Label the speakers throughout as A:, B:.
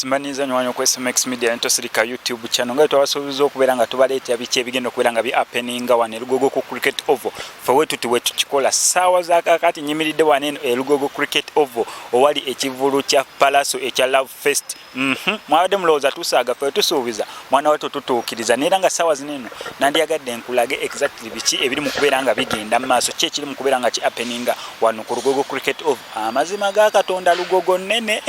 A: simanyiza nyo wanyo kwesa max media nto silika youtube channel ngai twawasubiza okubera nga tubaleta biki ebigenda okubera nga bi happening nga wane lugogo ku cricket oval for wetu tuwe tukikola sawa za kakati nyimilide wane e lugogo cricket oval owali ekivulu cha palaso echa love fest Mhm. Mwabadde mulowooza tusaaga ffe tusuubiza mwana wattu tutuukiriza naye era nga ssaawa zino eno nandiyagadde nkulage exactly biki ebiri mu kubeera nga bigenda mu maaso ki ekiri mu kubeera nga ki appeninga wano ku lugogo cricket of amazima ga katonda lugogo nnene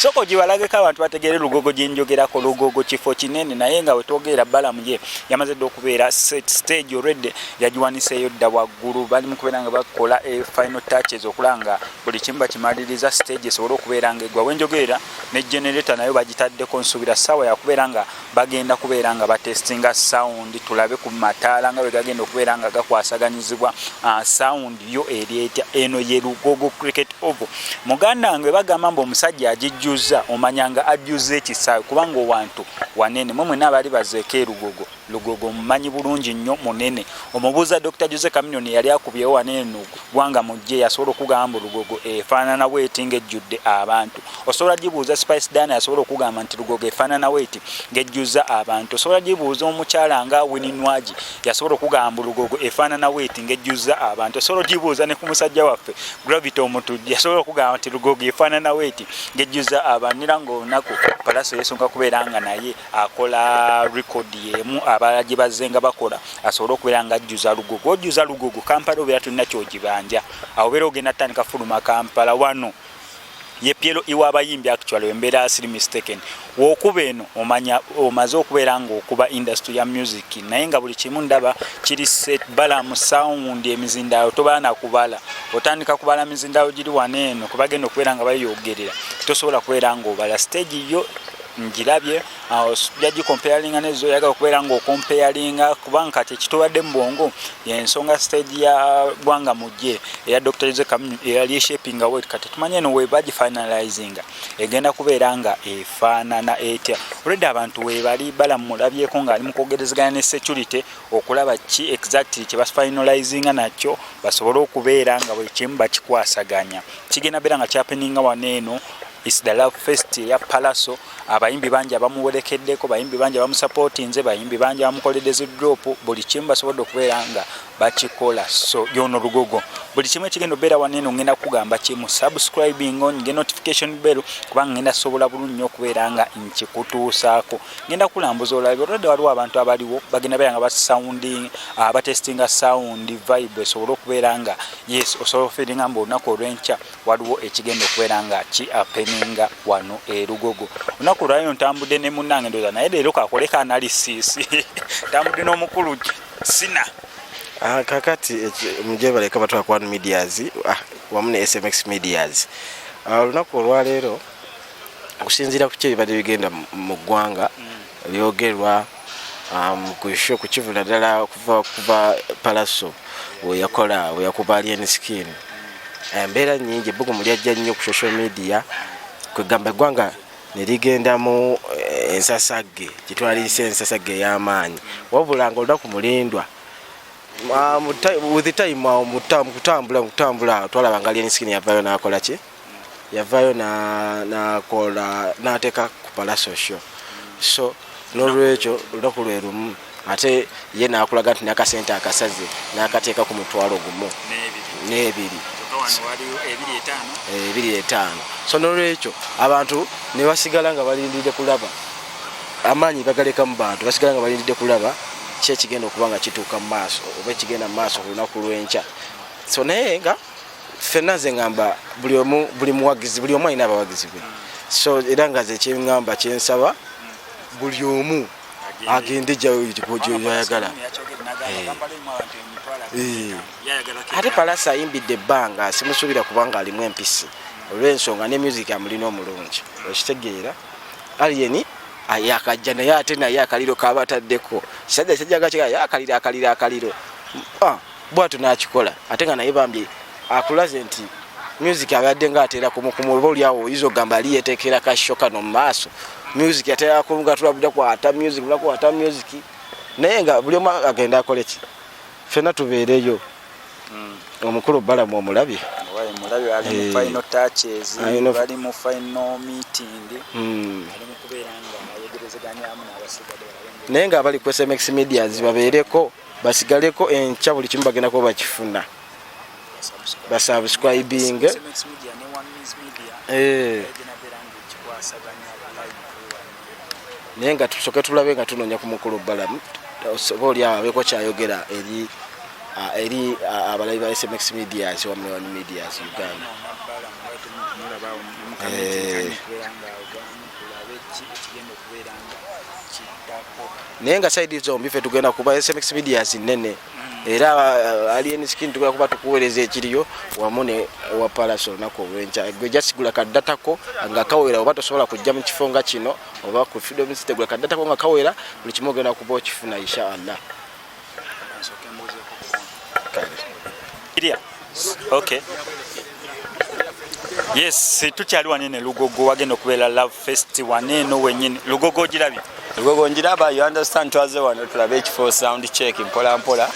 A: sooka ogibalageko abantu bategeere lugogo gye njogerako lugogo kifo kinene naye nga we twogeera balamu ye yamaze dde okubeera set stage already yagiwaniseeyo dda waggulu bali mu kubeera nga bakola e final touches okulaba nga buli kimu bakimaliriza stage esobole okubeera nga egwa wenjogeera ne generator nayo bagitaddeko nsuubira ssaawa yakubeera nga bagenda kubeera nga batestinga sound tulabe ku mataala nga bwe gagenda okubeera nga gakwasaganyizibwa ah, sound yo eri etya eno ye lugogo cricket ovo muganda wange bagamba mbu omusajja agijjuzza omanya nga ajjuzza ekisaawe kubanga owantu wanene mwe mwena abali bazeeko erugogo Lugogo omumanyi bulungi nnyo munene omubuuza Dokita Jose Chameleone eyali akubyewo wano eno gwanga mujje yasobola okugamba mbu Lugogo efaanana bweti ng'ejjudde abantu osobola gibuuza Spice Diana yasobola okugamba nti Lugogo efaanana bweti ng'ejjuzza abantu osobola gibuuza omukyala nga Winnie Nwagi yasobola okugamba mbu Lugogo efaanana bweti ng'ejjuzza abantu osobola gibuuza ne ku musajja waffe Gravity Omutujju yasobola okugamba nti Lugogo efaanana bweti ng'ejjuzza abantu era ng'olunaku Pallaso yeesunga kubeera nga naye akola record yemu abala gye bazze nga bakola asobole okubeera nga ajjuza lugogo ojjuza lugogo kampala obeera tulina kyogibanja awo obeera ogenda tutandika fuluma kampala wano yepyelo iwa abayimbi actually embeera siri mistaken wokuba eno omanya omaze okubeera ngaokuba industry ya music naye nga buli kimu ndaba kiri set bala mu sound emizindaalo tobala nakubala otandika kubala mizindaalo giri wano eno kubagenda okubeera nga bayogerera tosobola kubeera ngaobala stage yo njirabye ojja gikompeyalinga nezo oyagala okubeera nga okompeyalinga kubanga kati ekitubadde mu bwongo yensonga stage ya gwanga mujje eya dr jose kamunyu eyali eshapinga wet kati tumanye eno webagi finalizinga egenda kubeera nga efaanana etya olwedde abantu webali balamulabyeko ngaali mukwogerezegana ne security okulaba ki exactly kyebafinalizinga nakyo basobole okubeera nga buli kimu bakikwasaganya kigenda beera nga kyapeninga wano eno It's the love fest ya Palaso abayimbi bangi abamuwerekeddeko bayimbi bangi abamusapootinze bayimbi bangi abamukoledde zi drop buli kimu basobodde okubeera nga bakikola so yono lugogo buli kimu ekigenda obeera waneeno ngenda kugamba kimu subscribing on nge notification bell kubanga ngenda sobola bulungi nnyo okubeera nga nkikutuusaako ngenda kulambuza olabe olwadde waliwo abantu abaliwo bagenda beera nga basounding abatestinga ah, sound vibe esobole okubeera nga yes osobola ofiringa mbu olunaku olwenkya waliwo ekigenda okubeera nga ki apeninga wano erugogo olunaku olwalino ntambudde ne munange ndoza naye leero kakoleka analysis ntambudde n'omukulu sina ah,
B: kakati mugyebaleka batwala ku one medias ah, wamu ne smx medias ah, olunaku olwaleero okusinziira ku kyo ebibadde bigenda mu ggwanga mm. byogerwa um, ku show ku kivula ddala okuva kuva palaso weyakola weyakuba alien skin embeera eh, nyingi ebbugumu lyajja nnyo ku social media kwegamba eggwanga nerigendamu eh, ensasagge gyetwaliyise ensasagge ey'amaanyi wabula nga olunaku mulindwa ah, with time ah, kutambula kutambula twalaba nga alien skin yavayo nakolaki yavayo nakola nateka ku palaso show so nolwekyo olunaku lwe lumu ate ye nakulaga nti nakasente akasaze nakateeka ku mutwalo gumu n'ebiri ebiri eh, etaano so nolwekyo abantu nebasigala nga balindidde kulaba amaanyi bagaleka mu bantu basigala nga balindidde kulaba ki ekigenda okuba nga kituuka mu maaso oba ekigenda mu maaso ku lunaku lw'enkya so naye nga fenna nze ngamba buli omu buli muwagizi buli omu alina abawagizi be so era nga ze kyengamba kyensaba buli omu agende gyoyagala eh. eh. ate palasi ayimbidde ebbanga simusuubira kubanga alimu empisi olwensonga ne music amulina omulungi okitegeera alieni yakajja naye ate naye akaliro kaba ataddeko kisajja kisajja gakigala yakaliro akaliro akaliro ah. bwatu nakikola ate nga naye bambi akulaze nti music abadde nga atera kumukumu oba olyawo oyinza okugamba ali yeteekera kasho kano mu maaso music atera kumugatula buda kwata music bula kwata music naye nga buli omu agenda akole ki fena tubeereyo hmm. omukulu balamu
A: omulabye naye nga abali ku
B: smx medias babeereko basigaleko enkya buli kimu bagenda kuba bakifuna basubscribing eh. naye nga tusoke tulabe nga tunonya ku mukulu balamu oba oli awo abeeko kyayogera eri eri abalabi ba smx medias wa mlewan medias uganda eh. naye nga saidi zombi fe tugenda kuba smx medias nene mm. era uh, alien skin tugenda kuba tukuweereza ekiriyo wamu ne wa palaso olunaku olwenkya gwe jasigula kaddatako nga kawera oba tosobola kujja mu kifo nga kino oba ku freedom city gula kaddatako nga kawera buli kimu ogenda kuba okifuna inshallah
A: Okay. Yes, tukyali wano eno Lugogo wagenda okubeera Love Fest wano eno wenyini. Lugogo ogirabye? Lugogo ngiraba,
C: you understand twaze wano tulabe ekifo sound check mpola mpola.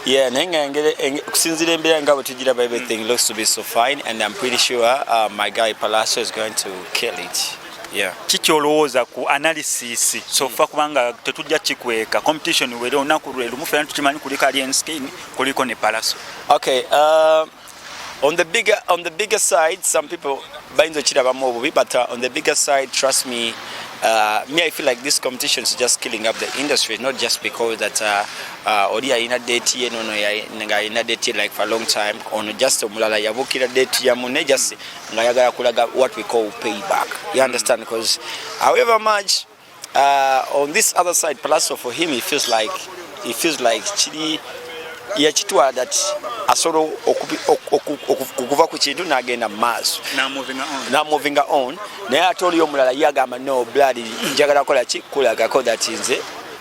C: Yeah, naye nga kusinzira embeera nga bwe tugiraba everything looks to be so fine and I'm pretty sure uh, my guy Palacio is going to kill it. Yeah. kiki olowooza
A: ku analysis sofa hmm. kubanga tetujja kikweka competition were olunaku lwe lumu fena tukimanyi kuliko alien skin kuliko ne palaso okay, uh,
C: on the bigger, on the bigger side some people bayinza okirabamu obubi but uh, on the bigger side trust me Uh, me, I feel like this competition is just killing up the industry, not just because that uh, uh, Ori Aina date here, no, no, Aina date like for a long time, or just Mulala Yabukira date Yamune, just nga ayagala kulaga what we call payback you understand because however much uh, on this other side palaso for him he feels like he feels like kiri yakitwala that asobola okuva ku kintu nagenda mu maaso namovinga on naye ate oliyo omulala ye agamba no blood njagala kola ki kulagako that nze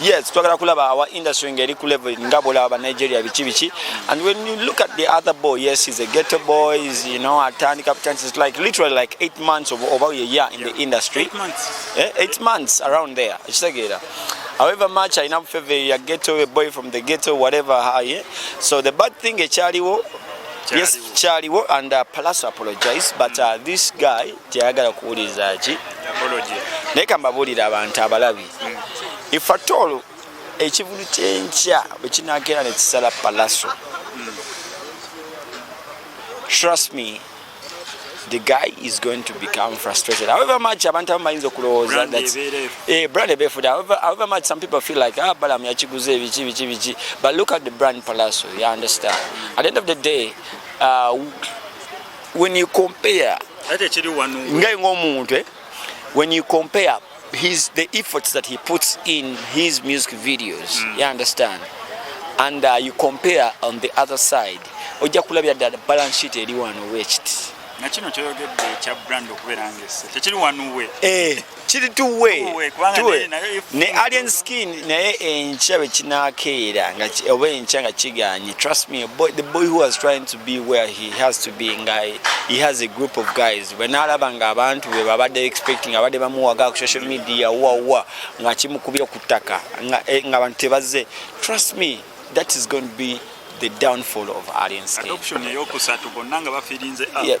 C: Yes, twagala kulaba our industry ngeri ku level nga bolaba Nigeria bichi bichi and when you look at the other boy yes he's a ghetto boy is you know atani captain is like literally like 8 months of over a year in yeah. the industry 8 months
A: eh 8 months around
C: there ekitegeera however much I know favor your ghetto a boy from the ghetto whatever how yeah? so the bad thing ekyaliwo yes kyaliwo and uh, plus apologize but uh, this guy teyagala kuwuliriza ki
A: naye kambabuulira
C: abantu abalabi ifatoolo ekivulu kyenkya bwe kinakeera ne kisala palaso trust me the guy is going to become frustrated however much abantu abamu bayinza okulowooza eh, brand ebefude however much some people feel like ah, balamu yakiguze biki biki biki but look at the brand palaso you understand at the end of the day uh, when you compare ngai ng'omuntu eh, when you compare his the efforts that he puts in his music videos mm. you understand and uh, you compare on the other side ojja kulabira ddala balance sheet eri wano wekiti nakino kyoyogedde
A: ekya brand okubeera ngese tekiri wanuwe eh. kiri
C: tuwe tuwe ne alien skin naye enkya bwe kinaakeera nga oba enkya nga kiganye trust me boy, the boy who was trying to be where he has to be nga he has a group of guys bwe naalaba nga abantu be babadde expecting abadde bamuwaga ku social media wawa nga kimukubye ku ttaka nga eh, abantu tebazze trust me that is going to be the downfall of alien skin adoption eyokusatu
A: bonna nga bafirinze yeah.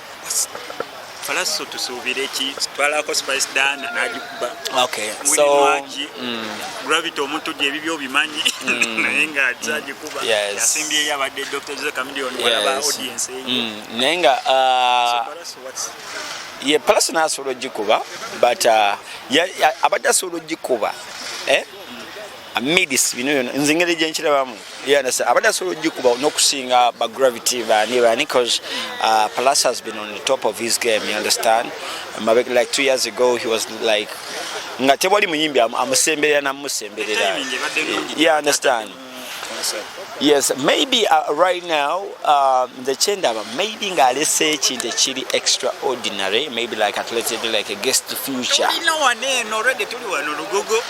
A: falaso tusuubire ki twalako spice dana nagikuba mulinwaki
C: mm. gravity
A: omuntu gye ebibyo obimanyi mm. naye nga zagikuba mm. yasimbyeyo abadde dr jose camilion walaba audience eyo naye nga uh,
C: ye palaso nasobola ogikuba but uh, abadde asobola ogikuba eh? midis bino byona nze engeri gyenkirabamu yandasa abadde asobola ogikuba n'okusinga ba gravity bani bani cause uh, plus has been on the top of his game you understand Mabek, like two years ago he was like nga tewali muyimbi amusemberera namusemberera you understand yes maybe uh, right now um, the chendaba maybe ngalese ekintu ekiri extraordinary maybe like athletic like a guest future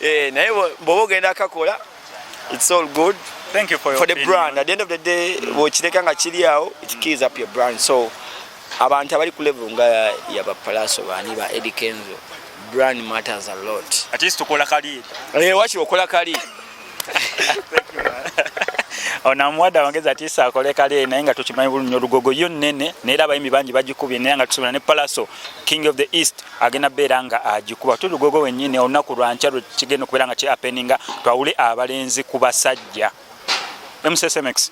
C: eh naye bobo ogenda akakola it's all good thank you for your for the
A: brand at the end of the day
C: bwokireka nga kiri awo it keys up your brand so abantu abali ku level nga ya ba palaso bani ba Eddie Kenzo brand matters a lot at least tukola kali
A: eh wachi okola
C: kali
A: ona mwada wangeza ati sa kole kale na inga tuchimanyi bulu nyorugogo yo nene na ila baimi banji bajikubye na inga tusumana ne palaso king of the east agenda beera nga agikuba tuli gogo wenyini olunaku lwankya lwe kigenda okubeera nga kyapeninga twawule abalenzi ku basajja msmx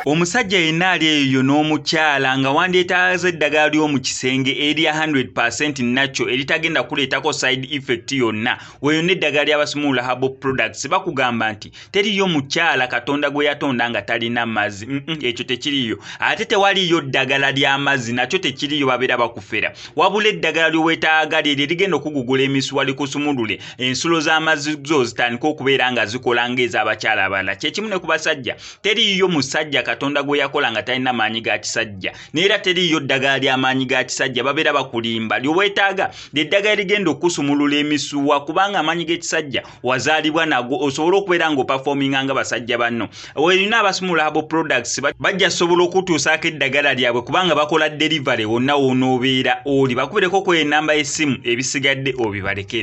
A: omusajja yenna ali eyo n'omukyala nga wandyetaaza eddagala ly'omu kisenge erya 100 nakyo eritagenda kuleetako side effect yonna weyo n'eddagala ly'abasimuula habo products bakugamba nti teriyo mukyala katonda gwe yatonda nga talina mazzi ekyo tekiriyo ate tewaliyo ddagala ly'amazzi nakyo tekiriyo babeera bakufera wabula eddagala lyowetaaga lye lye ligenda okugugula emisuwa likusumulule ensulo z'amazzi zo zitandika okubeera nga zikola ng'ez'abakyala abalala kyekimu ne ku basajja teriyo musajja katonda gwe yakola nga talina maanyi ga kisajja neera teriyo ddagala ly'amaanyi ga kisajja babeera bakulimba lyowetaaga lyeddagala ligenda okukusumulula emisuwa kubanga amaanyi g'ekisajja wazaalibwa nagwo osobola okubeera nga opafominga nga basajja banno olina abasumula abo products bajja sobola okutuusaako eddagala lyabwe kubanga bakola delivery wonna wonoobeera oli bakubireko ku enamba y'essimu ebisigadde obibalekere